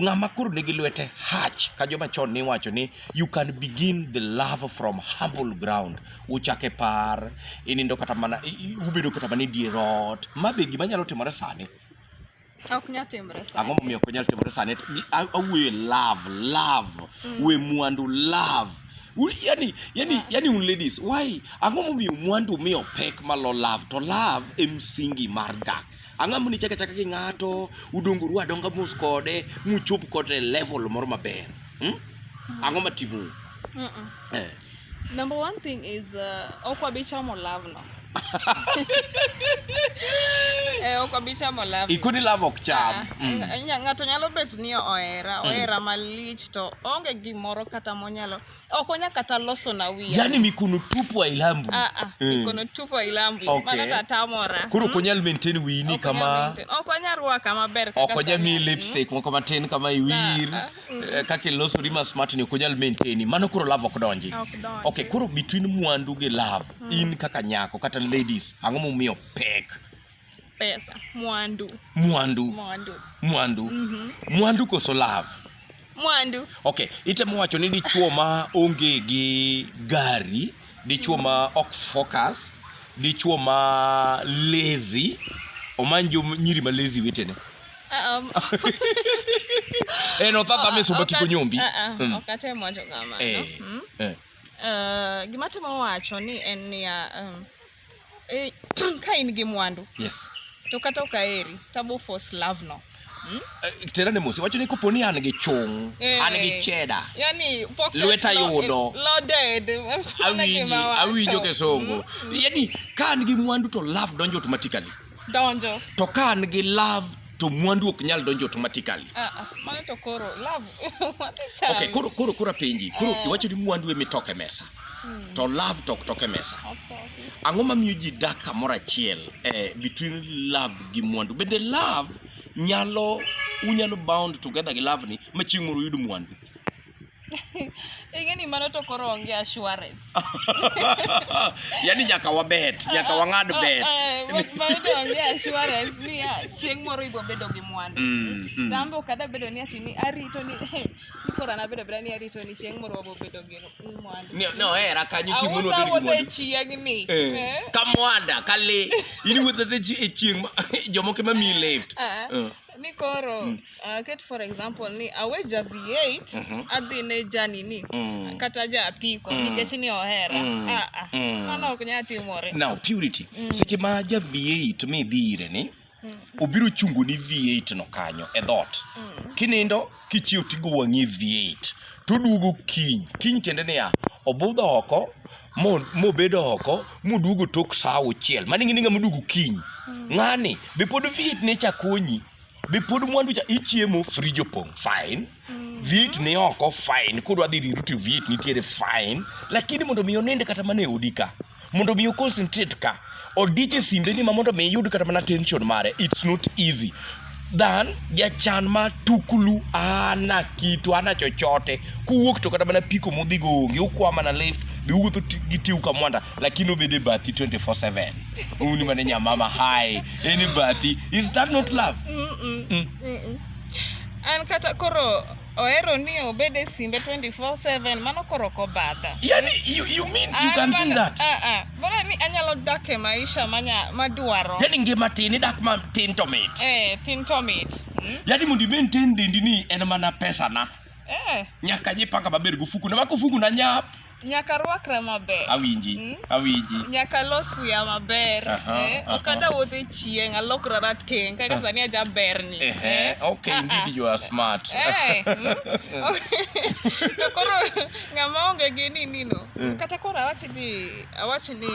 ng'ama koro nigi lwete hach ka joma chon ni wacho ni you can begin the love from humble ground uchake par inindo kata mana ubedo kata mana e dier ot ma be gima nyalo timore sani ok nyal timore sani ang'o momiyo ok nyal timore sani awuoyo love love mm. we mwandu love yani yani yeah. yani un ladies why ang'o momiyo mwandu miyo pek malo love to love e msingi mar dak Ang'amo ni chaka chaka gi ng'ato, udonguru adonga mos kode, muchop kode level moro maber. Hmm? Ang'o matimu? Mm -mm. Eh. Number one thing is uh, okwa bichamo love no. eh, ok obi chamo love. Ikuni love ok cham. Ah, mm. Ng'ato nyalo bet ni ohera, mm. ohera malich to onge gimoro kata monyalo okonya kata loso na wiya yani mikono tupu ailambu ah, ah, mm. mikono tupu ailambu okay. mano tatamora koro mm. konyal maintain wini kama okonya rwaka maber okonya mi hmm? lipstick mm. moko matin kama iwir ah, ah. Mm. Eh, kaka ilosori ma smart ni okonyal maintain mano koro love ok donji okay koro between mwandu gi love mm. in kaka nyako kata ladies ang'o momiyo pek Pesa, mwandu. Mwandu. Mwandu. Mwandu. Mm -hmm. Mwandu koso love. Mwandu. Okay, itemo wacho ni dichuo ma onge gi gari, dichuo ma ok focus, dichuo ma lazy, omanjo nyiri ma lazy wetene. Um, eh, no tata me soba kiko nyombi. Uh, uh, mm. Okate mwacho kama. Eh, no? mm? eh. Uh, gima temo wacho ni en niya um, e, ka in gi mwandu yes. to kata ok aheri tabo force love no hmm? Eh, tera ne musi wacho ni kopo ni an gi chung eh, an gi cheda yani lweta yudo loaded awinjo kesongo hmm. yani ka an gi mwandu to love donjo automatically donjo to ka an gi love to mwandu ok nyal donjo automatically ah, ah, mano to koro love okay koro koro koro penji koro eh. iwacho ni mwandu e mitoke mesa hmm. to love tok toke mesa ang'o mamiyo ji dak kamoro achiel eh, between love gi mwandu bende love nyalo unyalo bound together gi love ni ma chieng' moro uyud mwandu Ingeni mano to koro onge assurance. Yaani nyaka wabet, nyaka wang'ad ah, ah, bet. Eh, mano to onge assurance ni ah, chieng' moro ibo bedo gi mwandu. Mm, mm. Tambo kada bedo ni ati ni arito ni eh, kora na bedo ni arito ni chieng' moro wabo bedo gi mwandu. Ni no era kanyo chieng' moro bedo gi mwandu. Awuotho chieng' ni. Eh, ka mwanda, ka le. Ini wuotho e chieng' jomoko ma mi left. ni koro mm. uh, ket for example ni awe ja v8 mm -hmm. adhi ne janini mm. kata ja apiko mm. nikech ni ohera mm. ah, ah. mm. mano ok nyal timore now purity mm. seche ma ja v8 mi dhi ire ni mm. obiro chungo ni v8 no kanyo e dhot mm. kinindo Kichiew tigo wang'i viet, toduogo kiny. Kiny tiende niya, obudho oko mobedo oko moduogo tok saa auchiel mano ing'e ni ng'ama oduogo kiny mm. ng'ani be pod viet ne cha konyi be pod mwandu cha ichiemo frij opong' fine mm. viet ni oko fine kodwa dhi riru to viet nitiere fine lakini mondo mi oninde kata mana e odi ka mondo mi oconcentrate ka odich e simbeni ma mondo mi iyud kata mana tension mare it's not easy than jachan ma tukulu ana kitu ana chochote kuwuok to kata mana piko mudhigo onge ukwa mana left biwuotho gi tiu kamwanda lakini obede bathi 24/7 uni mane nyamama hai eni bathi is that not love mm -mm. Mm -mm. an kata koro ohero ni obed e simbe 24/7 mano koro ok obadha yani you, you mean you can see that ah ah bora ni anyalo dak e maisha manya madwaro yani ngima tin idak ma tin to mit eh tin to mit hmm? yani mondo maintain dendi ni en mana pesa na eh nyaka jipanga maber gufuku na wako fuku na nyap Nyaka rwakra maber. Awinji, mm? awinji. Nyaka los wiya maber. Uh -huh, eh? uh -huh. Okada wuotho e chieng', alokra rateng', kaka uh-huh. sani aja berni. Uh -huh. eh? Okay, uh -huh. indeed you are smart. eh, mm? to koro ng'ama onge gi nini no. Mm. Kata koro awachi ni, awachi ni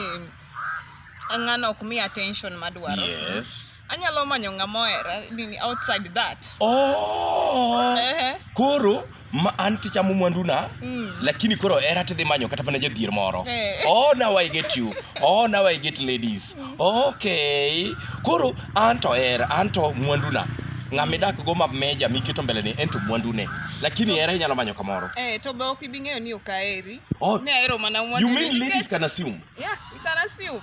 ng'ano ok mi attention madwaro. Yes. Anyalo manyo ng'ama ohera nini outside that. Oh. Ehe. Koro ma an tichamo mwanduna Mm. lakini koro hera tidhi manyo kata mana jadhier moro Eh. oh now i get you oh now i get ladies okay koro an to hera an to mwanduna ng'ama idakgo ma meja miketo mbeleni en to mwandune lakini hera inyalo manyo kamoro Eh, to be ok ibi ng'eyo ni ok aheri. Oh. Ne ahero mana mwandu. you mean ladies can assume Yeah, you can assume.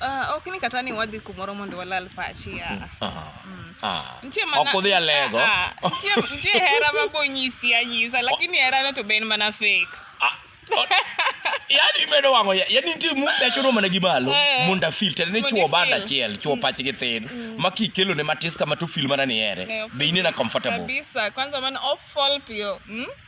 Uh, ok ni kata ni wadhi kumoro mondo walal pachi ah. Mm, ah. Mm. Ah. Nitie mana ok udhi alego. Ah, ah. Nitie nitie hera ma bonyisi anyisa lakini hera no to ben mana fake. Ah. yani medo wango ya yani nitie mu ya chono mana gimalo eh. munda filter ne chuo banda chiel chuo mm. pach gi thin mm. ma kikelo ne matis kama to film mana ni ere eh, be inena comfortable kabisa kwanza man off fall pio mm?